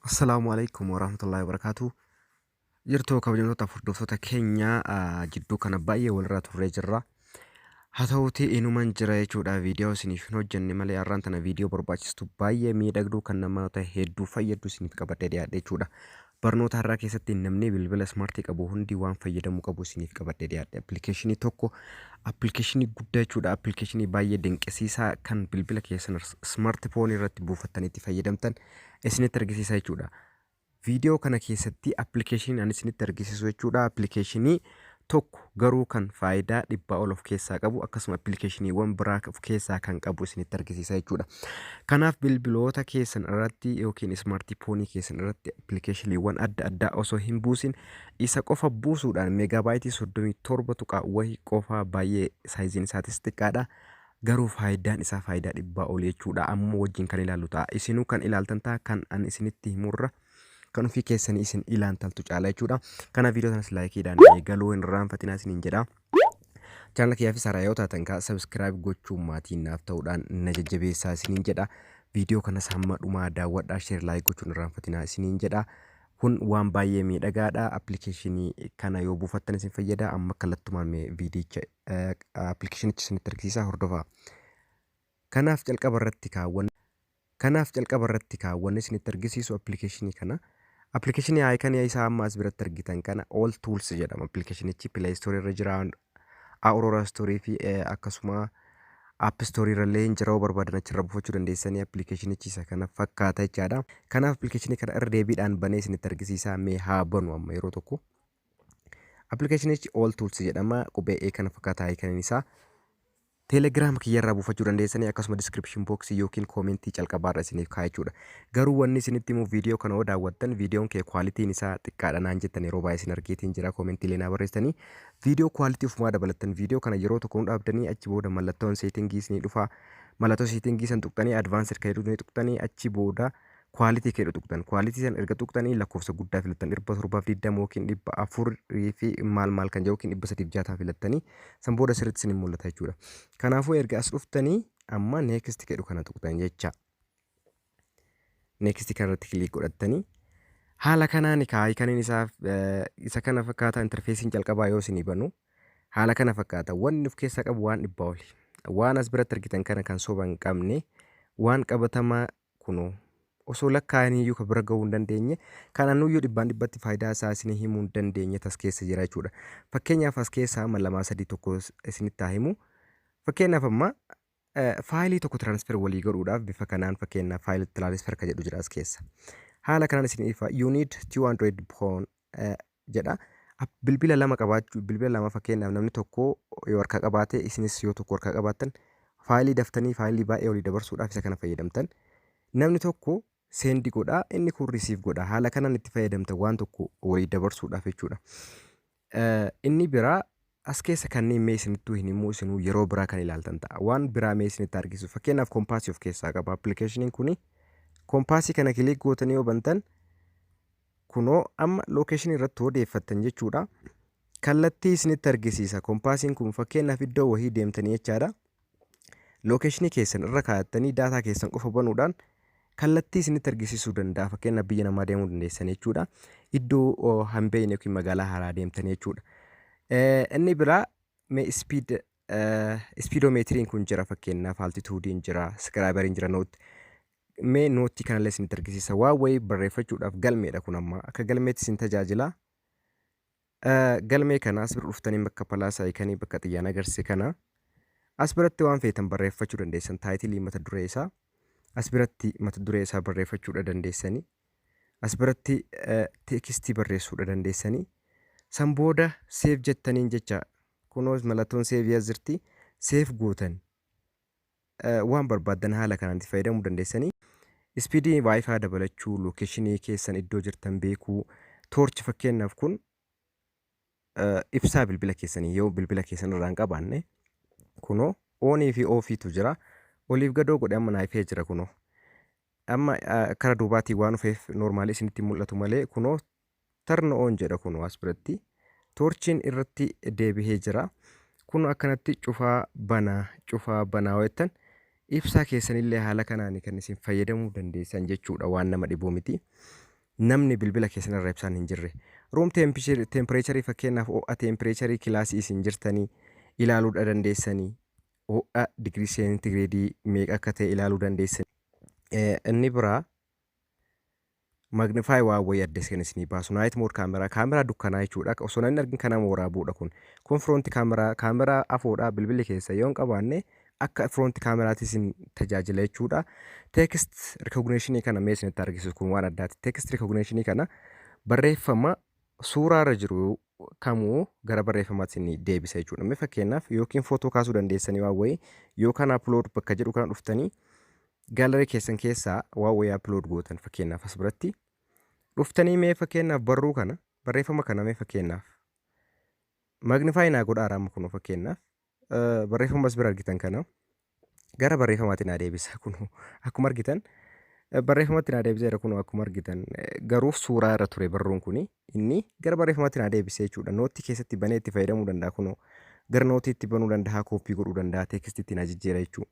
Assalaamu alaikum warahmatullahi wabarakatuh. Jirtuu kabajamtoota hordoftoota keenya ah, jidduu kana baay'ee walirraa turree jirra. Haa ta'uutii inuman jira jechuudha viidiyoo isiniif hin hojjenne malee har'aan tana viidiyoo barbaachistu baay'ee miidhagduu kan namoota hedduu fayyaddu isiniif qabadhee dhiyaadhe jechuudha. Barnoota har'aa keessatti namni bilbila ismaartii qabu hundi waan fayyadamuu qabu isiniif qabadhee dhiyaadhe. Appilikeeshinii tokko appilikeeshinii guddaa jechuudha. Appilikeeshinii baay'ee dinqisiisaa kan bilbila keessan ismaartii foonii irratti buufattanii itti fayyadamtan isinitti argisiisa jechuudha. Viidiyoo kana keessatti appilikeeshinii ani isinitti argisiisu jechuudha. Appilikeeshinii tokko garuu kan faayidaa dhibbaa ol of keessaa qabu akkasuma appilikeeshiniiwwan biraa of keessaa kan qabu isinitti argisiisa jechuudha. Kanaaf bilbiloota keessan irratti yookiin ismaartiifoonii keessan irratti appilikeeshiniiwwan adda addaa osoo hin buusin isa qofa buusuudhaan meegaabaayitii soddomii torba tuqaa wayii qofaa baay'ee saayiziin isaatis xiqqaadha. Garuu faayidaan isaa faayidaa dhibbaa ol jechuudha. Amma wajjin kan ilaallu ta'a. Isinuu kan ilaaltan ta'a kan an isinitti himurra kan ofii keessanii isin ilaantaltu caala jechuudha. Kana viidiyoo sanas laayikiidhaan eegaluu hin irraanfatinaa isiniin jedha. Chaanala kiyyaa fi saaraa yoo taatan kaa sabiskiraayib gochuun maatii naaf ta'uudhaan na jajjabeessaa isiniin jedha. Viidiyoo kanas hamma dhumaa daawwadhaa sheer laayik gochuun hin irraanfatinaa isiniin jedha. Kun waan baay'ee miidhagaadha. Appilikeeshinii kana yoo buufattan isin fayyada. Amma kallattumaan viidiyicha appilikeeshinicha isinitti argisiisa hordofaa. Kanaaf calqaba irratti kaa wan Kanaaf calqaba irratti kaa wan isinitti argisiisu application kana application icon isaa amma as biratti argitan kana all tools jedhama applicationichi play store irra jira aurora store fi eh, akkasuma app store irra illee hin jira yoo barbaadan achirra buufachuu dandeessanii applicationichi isa kana fakkaata jechaadha kanaaf application kana irra deebiidhaan banee isinitti argisiisaa mee haa banu amma yeroo tokko applicationichi all tools jedhama qubee e kana fakkaata icon isaa Telegram kiyya irraa buufachuu dandeessanii akkasuma description box yookiin comment calqabaa irra isiniif kaa'a jechuudha. Garuu wanni isinitti himu video kana yoo daawwattan videon kee quality'n isaa xiqqaadha naan jettan yeroo baay'ee isin argeetiin jira comment illee naa barreessitanii video quality ofumaa dabalattan video kana yeroo tokko nu dhaabdanii achi booda mallattoon setting isinii dhufa mallattoo setting san tuqxanii advanced kan jedhu ni tuqxanii achi booda quality keedha tuqxan quality san erga tuqxanii lakkoofsa guddaa filattan dhibba torbaaf digdama yookiin dhibba afur fi maal maal kan jedhu yookiin dhibba sadiif jaataa filattanii san booda sirriitti isin mul'ata jechuudha. Kanaafuu erga as dhuftanii amma next keedhu kana tuqxan jecha. Next kana irratti kiliik godhattanii haala kanaan kaa ikaniin isaa isa kana fakkaata interfeesiin jalqabaa yoo isinii banu haala kana fakkaata wanni of keessaa qabu waan dhibbaa oli. Waan as biratti argitan kana kan soba hin qabne waan qabatamaa kunoo. Osoo lakkaa'aniiyyuu ka bira ga'uu hin dandeenye, kana nuyyuu dhibbaan dhibbatti faayidaa isaa isinii himuu hin dandeenye tas keessa jira jechuudha. Fakkeenyaaf as keessaa amma lamaa sadii tokko isinitti haa himu. Fakkeenyaaf amma faayilii tokko transfer walii godhuudhaaf bifa kanaan fakkeenyaaf faayil transfer ka jedhu jira as keessa. Haala kanaan isin ifa you need two android phone jedha. Bilbila lama qabaachuu bilbila lama fakkeenyaaf namni tokko yoo harkaa qabaate isinis yoo tokko harkaa qabaattan faayilii daftanii faayilii baay'ee olii dabarsuudhaaf isa kana fayyadamtan. Namni tokko seendi godha inni kun risiif godha haala kanaan itti fayyadamtan waan tokko olii dabarsuudhaaf jechuudha. Inni biraa As keessa kanneen mee isinittuu hin himuu isinuu yeroo biraa kan ilaaltan ta'a. Waan biraa mee isinitti argisiisu. Fakkeenyaaf kompaasii of keessaa qaba. Appilikeeshiniin kuni kompaasii kana kiliik gootanii yoo bantan kunoo amma lookeeshinii irratti odeeffattan jechuudha. Kallattii isinitti argisiisa. Kompaasiin kun fakkeenyaaf iddoo wahii deemtanii jechaadha. lookeshinii keessan irra kaayattanii daataa keessan qofa banuudhaan kallattii isinitti argisiisuu danda'a. Fakkeenyaaf biyya namaa deemuu dandeessan jechuudha. Iddoo hin beekne yookiin magaalaa haaraa deemtan jechuudha. Inni biraa mee ispiid ispiidoomeetiriin kun jira fakkeenyaaf altituudiin jira iskiraayibariin jira nootti. Mee nootti kanallee isinitti argisiisa. Waan wayii barreeffachuudhaaf galmeedha kun amma akka galmeetti isin tajaajila. Galmee kana as bira dhuftanii bakka palaasaa ikanii bakka xiyyaan agarsiise kana as biratti waan feetan barreeffachuu dandeessan taayitilii mata duree isaa as biratti mata duree isaa barreeffachuudha dandeessanii as biratti teekistii barreessuudha dandeessanii san booda seef jettaniin jecha kunoos malatoon seef yaas jirti seef gootan Waan barbaaddan haala kanaan itti fayyadamuu dandeessanii. Ispiidii Wi-Fi dabalachuu, lookeshinii keessan iddoo jirtan beekuu, toorchi fakkeenyaaf kun ibsaa bilbila keessanii yoo bilbila keessan irraa hin qabaanne kunoo oonii fi oofiitu jira. Oliif gadoo godhe amma naayifee jira kunoo. Amma kara duubaatiin waan dhufeef noormaalii isinitti mul'atu malee kunoo Turn on jedha kunoo as biratti. Toorchiin irratti deebihee jira. Kunoo akkanatti cufaa banaa cufaa banaa yoo jettan ibsaa keessanillee haala kanaani kan isin fayyadamuu dandeessan jechuudha waan nama dhibuu miti. Namni bilbila keessanirra ibsaan hin jirre. Room tempireecharii fakkeenyaaf ho'a tempireecharii kilaasii isin jirtanii ilaaluudha dandeessanii. Ho'a digirii seentigireedii meeqa akka ta'e ilaaluu dandeessanii. Inni biraa Magnify waan wayii adda seen isinii baasu night mode camera camera dukkanaa jechuudha osoo namni argin kan nama waraabuudha kun kun front camera camera afoodha bilbilli keessa yoo hin qabaanne akka front cameraatti isin tajaajila jechuudha text recognition kana mee isinitti argisiisu kun waan addaati text recognition kana barreeffama suuraa irra jiru kamuu gara barreeffamaatti isin deebisa jechuudha mee fakkeenyaaf yookiin footoo kaasuu dandeessanii waan wayii yookaan upload bakka jedhu kana dhuftanii Gallery keessan keessaa waan wayii upload gootan fakkeenyaaf as biratti dhuftanii mee fakkeenyaaf barruu kana barreeffama kana mee fakkeenyaaf magnify naa godhaa raama kunoo fakkeenyaaf eh, barreeffama as bira argitan kana gara barreeffamaatti naa deebisa kunoo akkuma argitan eh, barreeffamatti naa deebiseera kunoo akkuma argitan eh, garuu suuraa irra ture barruun kuni inni gara barreeffamatti naa deebisee jechuudha nootti keessatti banee itti fayyadamuu danda'a kunoo gara nootiitti banuu danda'a kooppii godhuu danda'a teekstiitti naa jijjiira jechuudha.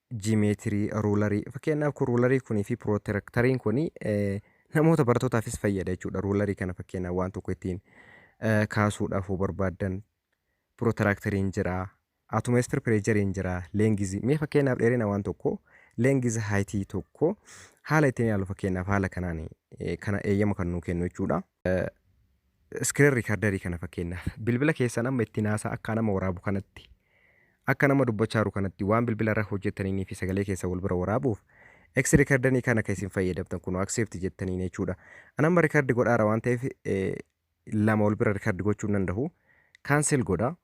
jimeetirii, ruularii. Fakkeenyaaf kun ruularii kunii fi pirootirektariin kun namoota barattootaafis fayyada jechuudha. Ruularii kana fakkeenyaaf waan tokko ittiin eh, kaasuudhaaf yoo barbaaddan pirootirektariin jira, atomeestir pireejariin jira, leengizi. Mee fakkeenyaaf dheerina waan tokko leengizi haayitii tokko haala ittiin ilaalu fakkeenyaaf haala kanaan eh, kana eeyyama kan nuu kennu jechuudha. Screen recorder kana fakkeenyaaf bilbila keessan amma ittiin haasaa akka nama waraabu kanatti akka nama dubbachaaru kanatti waan bilbila irra hojjettaniinii fi sagalee keessan wal bira waraabuuf X recorder kana kan isin fayyadamtan kun accept jettaniin jechuudha. An amma record godhaara waan ta'eef lama wal bira record gochuu hin danda'u. Cancel godha.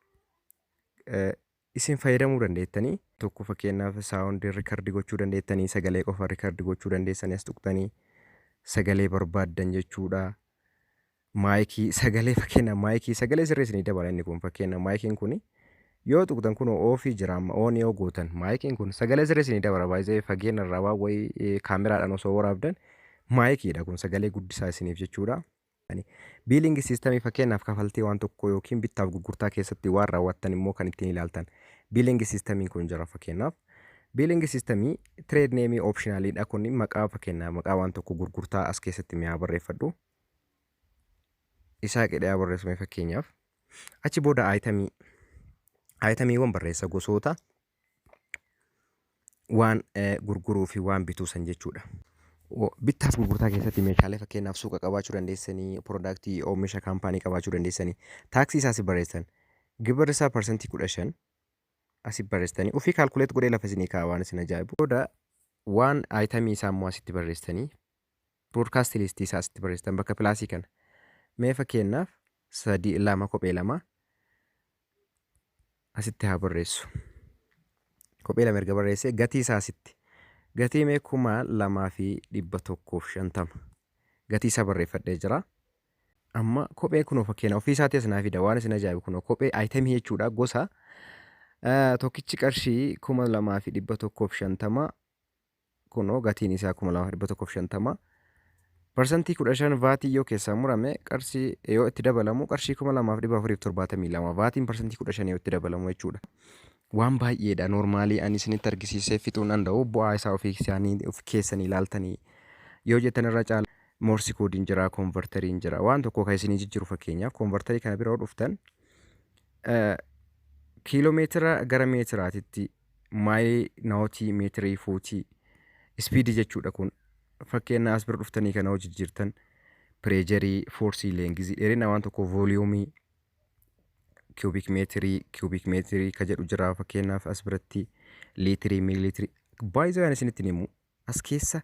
Isin fayyadamuu dandeettanii. tokko fakkeenyaaf sound record gochuu dandeettanii sagalee qofa record gochuu dandeessanii as tuqtanii sagalee barbaaddan jechuudha. Maayikii sagalee fakkeenyaaf maayikii sagalee sirrii isinii dabala inni kun fakkeenyaaf maayikiin kun yoo tuqtan kun oofii jira amma oon yoo gootan maayikiin kun sagalee sirrii isinii dabala baay'ee fageenya irraa waan wayii kaameraadhaan osoo waraabdan maayikiidha kun sagalee guddisaa isiniif jechuudha. Biiliingi siistamii fakkeenyaaf kafaltii waan tokkoo yookiin bittaaf gurgurtaa keessatti waan raawwattan immoo kan ittiin ilaaltan biiliingi siistamiin kun jira fakkeenyaaf. Biiliingi siistamii tireed neemii oopshinaaliidha kun maqaa fakkeenyaaf maqaa waan tokko gurgurtaa as keessatti mi'aa barreeffadhu. Isaa qidhaa barreeffame fakkeenyaaf. Achi booda aayitamii aayitamiiwwan barreessa gosoota waan gurguruu fi waan bituu san jechuudha. Bittaaf gurgurtaa keessatti meeshaalee fakkeenyaaf suuqa qabaachuu dandeessanii, piroodaaktii oomisha kaampaanii qabaachuu dandeessanii. Taaksii isaa asii barreessan. Gibirri isaa parsantii kudha shan asii barreessanii. Ofii kaalkuleet godhee lafa isinii kaa'a waan isin ajaa'ibu. Booda waan ayitamii isaa immoo asitti barreessanii Broadcast list isaa asitti barreessitan bakka pilaasii kana. Mee fakkeenyaaf sadii lama kophee lama asitti haa barreessu. Kophee lama erga barreessee gatii isaa asitti. Gatii mee kuma lamaa fi dhibba tokkoof shantama. Gatii isaa barreeffadhee jira. Amma kophee kunoo fakkeenya ofii isaatii as naa fida waan isin ajaa'ibu kunoo kophee ayitemii jechuudha gosa. Tokkichi qarshii kuma lamaa fi dhibba tokkoof shantama Kunoo gatiin isaa 2150. Parsantii 15 vaatii yoo keessaa murame qarshii yoo itti dabalamu qarshii 2472 vaatiin parsantii 15 yoo itti dabalamu jechuudha. Waan baay'eedha noormaalii ani isinitti argisiisee fixuu hin danda'u bu'aa isaa ofii isaanii of keessanii ilaaltanii yoo jettan irra caala moorsi koodiin jira koonvartariin jira waan tokko kan isinii jijjiiru fakkeenyaaf koonvartarii kana bira yoo dhuftan eh, kiiloo meetira gara meetiraatitti maayilii nawootii meetirii fuutii ispiidii jechuudha kun fakkeenya as bira dhuftanii kana hojii jirtan pireejarii foorsii leengizii dheerina waan tokko vooliyuumii kiubik meetirii kiubik meetirii ka jedhu jira fakkeenyaaf as biratti liitirii miiliitirii baay'isoo yaan isinitti himu as keessa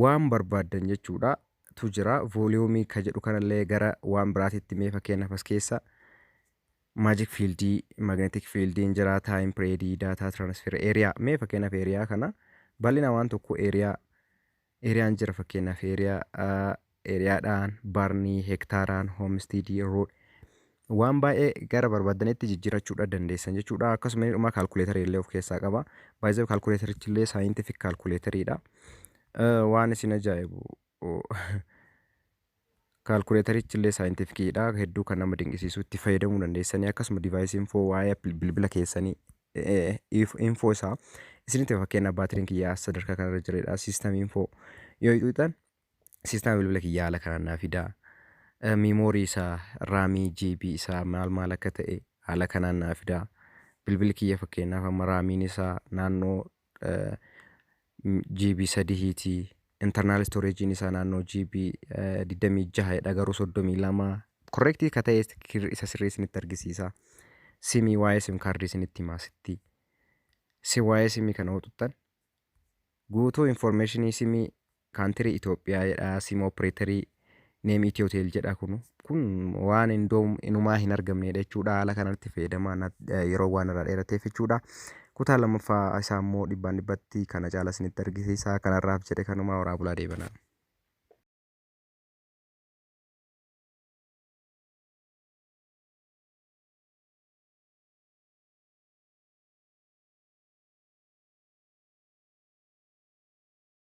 waan barbaaddan jechuudha tu jira vooliyuumii ka jedhu kanallee gara waan biraatitti mee fakkeenyaaf as keessa magic field magnetic field hin jira time period data transfer area mee fakkeenyaaf area kana bal'ina waan tokko area area hin jira fakkeenyaaf area area dhaan barnii hektaaraan homestead road waan baay'ee gara barbaadanitti jijjiirachuudha dandeessan jechuudha akkasuma dhuma kaalkuleetarii illee of keessaa qaba baay'ee kaalkuleetarichi illee saayintifik kaalkuleetariidha waan isin ajaa'ibu Kaalkuleetarichi illee saayintifikii dha. Hedduu kan nama dinqisiisu itti fayyadamuu dandeessanii akkasuma divaayisii infoo waa'ee bilbila keessanii infoo isaa isinitti fakkeenyaaf baatiriin kiyyaa sadarkaa kanarra jireedha. Siistamii infoo yoo xuqxan siistama bilbila kiyyaa haala kanaan naa fida. Miimoorii isaa raamii GB isaa maal maal akka ta'e haala kanaan naa fida. Bilbilli kiyya fakkeenyaaf amma raamiin isaa naannoo GB sadihiiti. Internal storage'n isaa naannoo GB 26 dha garuu 32. Correct ka ta'e kir- isa sirrii isinitti argisiisa. Simii waa'ee sim kaardii isinitti himaa sitti. Si waa'ee simii kana hoo tuttan guutuu information simii Country Ethiopia jedha sim operator name Ethiotel jedha kun kun waan indoo inumaa hin argamneedha jechuudha haala kanatti fayyadamaa na- eh, yeroo waan irraa dheerateef jechuudha kutaa lammaffaa isaa immoo dhibbaan dhibbatti kana caala isinitti argisiisa kanarraaf jedhe kanumaa horaa bulaa deebanaa